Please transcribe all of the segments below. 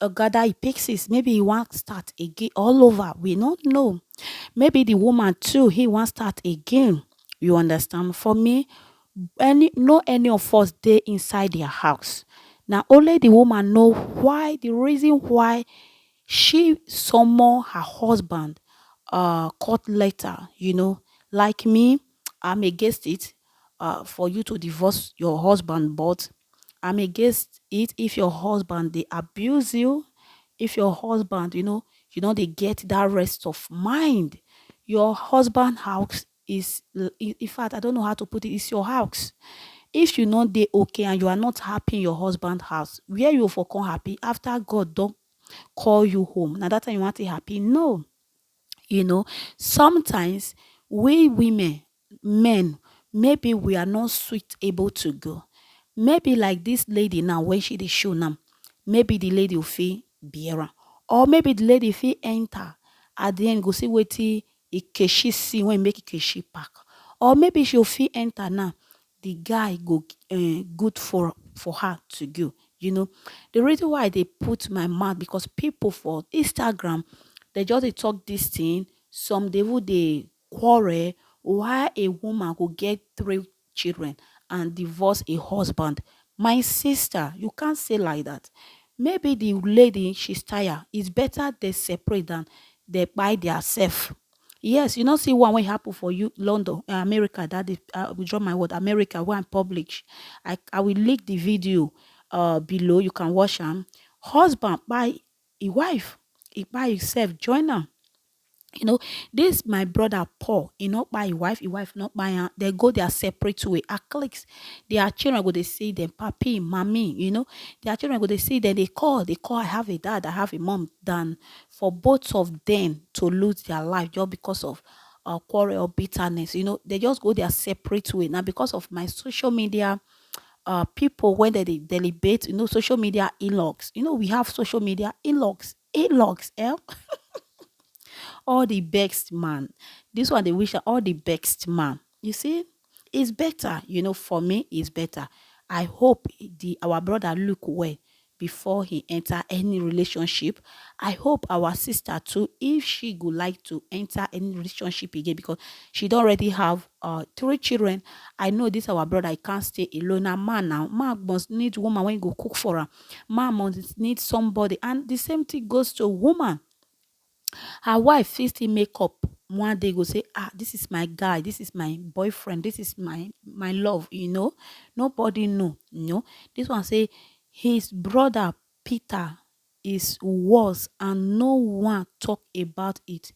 or gather e pieces maybe he wan start again all over we no know maybe the woman too he wan start again you understand for me any no any of us dey inside their house na only the woman know why the reason why she summon her husband um court letter you know like me am against it um for you to divorce your husband but I'm against it if your husband dey abuse you, if your husband, you know, you no dey get that rest of mind. Your husband house is, in fact, I don't know how to put it, it's your house. If you no dey okay and you are not happy in your husband house, where you for come happy after God don call you home? Now that time you want to happy? No. You know, sometimes we women men maybe we are not suitable to go maybe like this lady now when she dey show now maybe the lady will fit bear am or maybe the lady fit enter at the end go see wetin ikeshi see when make ikeshi pack or maybe she fit enter now the guy go uh, good for for her to go you know the reason why i dey put my mouth because people for instagram they just dey talk this thing some dey even dey Quarrel why a woman go get three children and divorce a husband my sister you can't say like that maybe the lady she's tired it's better they separate than they kpai their self yes you no see one wey happen for you London eh, America that day I ah, withdraw my word America wey I publish I, I will link the video uh, below you can watch am husband kpai his wife he kpai himself join am you know this my brother Paul he no kpai him wife him wife no kpai am they go their separate way at least their children go dey see them papi mami you know their children go dey see them dey call dey call I have a dad I have a mom than for both of them to lose their life just because of uh quarrel or bitterness you know they just go their separate way na because of my social media uh people wey dem dey delegate you know social media inlocks you know we have social media inlocks Hey locks eh all the best man this one dey wish am all the best man you see it's better you know for me it's better I hope the our brother look well before he enter any relationship I hope our sister too if she go like to enter any relationship again because she don already have uh, three children I know this our brother he can't stay alone na man now man must need woman when go cook for am man must need somebody and the same thing goes to woman her wife fit still make up one day go say ah this is my guy this is my boyfriend this is my my love you know nobody know you know this one say his brother peter is worse and no one talk about it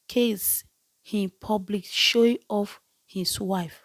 case he public showing off his wife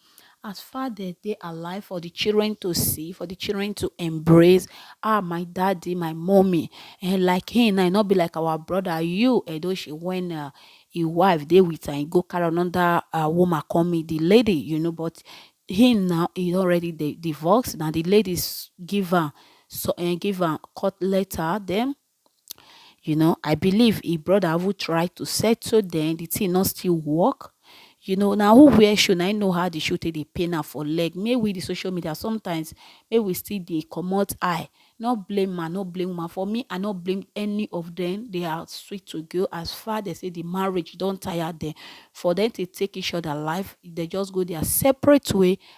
as far dem dey alive for the children to see for the children to embrace ah my daddy my mommy eh like him now e no be like our brother you edoshi when uh, him wife dey with am he go carry another uh, woman come meet the lady you know but him now he already dey divorce na the ladies give am so eh, give am court letter then you know i believe e brother even try to settle then the thing not still work you know now who wear shoe now i know how the shoe take the pain am for leg may we the social media sometimes may we still dey comot eye no blame man no blame woman for me i no blame any of them they are sweet to go as far they say the marriage don't tire them for them to take each other life they just go their separate way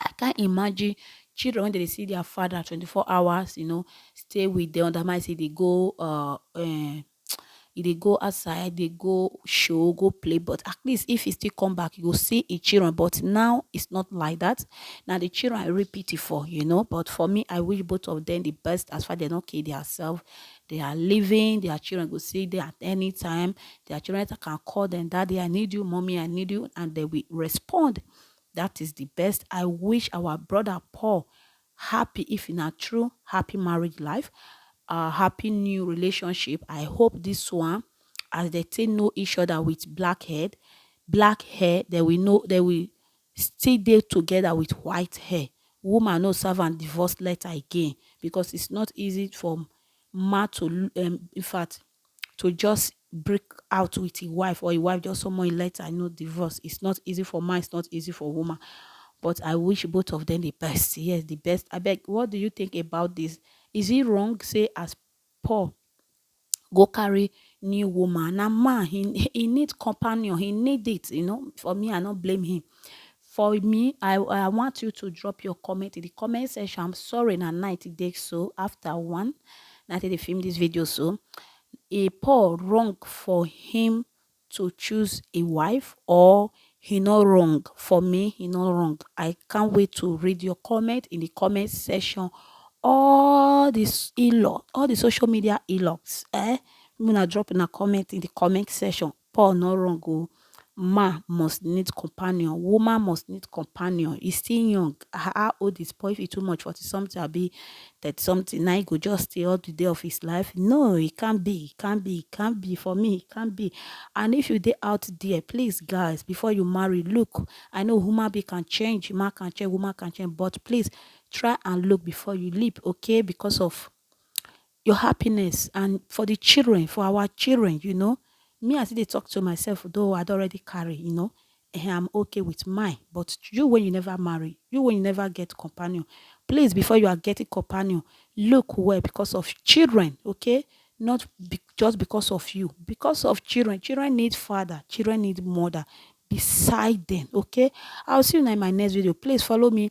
I can't imagine children when they see their father 24 hours, you know, stay with them. That might say they go uh, uh e dey go outside dey go show go play but at least if he still come back you go see e children but now it's not like that now the children are really pitiful you know but for me i wish both of them the best as far they don't kill themselves they are living their children go see them at any time their children can call them daddy i need you mommy i need you and they will respond That is the best I wish our brother Paul happy if na true happy marriage life uh happy new relationship I hope this one as they take know each other with black head black hair they will know they will still dey together with white hair woman no serve am divorce letter again because it's not easy for ma to um, in fact to just break out with his wife or his wife just summon him let her know divorce it's not easy for man it's not easy for woman but i wish both of them the best yes the best I beg. what do you think about this is it wrong say as paul go carry new woman na man he he need companion he need it you know for me i no blame him For me I I want you to drop your comment in the comment section I'm sorry na night e dey so after one na take dey film this video so e Paul wrong for him to choose a wife or he no wrong for me he no wrong I can't wait to read your comment in the comment section all this e-law all the social media e-laws eh una drop una comment in the comment section Paul no wrong o, man must need companion, woman must need companion, e still young, how old is Paul if e too much forty something abi thirty something na e go just stay all the day of his life no e can't be e can't be e can't be for me e can't be and if you dey out there please guys before you marry look I know human being can change man can change woman can change but please try and look before you leap okay because of your happiness and for the children for our children you know me as i dey talk to myself though i don already carry you know eh, i'm okay with mine but you when you never marry you when you never get companion please before you are getting companion look well because of children okay not be, just because of you because of children children need father children need mother beside them okay i'll see you in my next video please follow me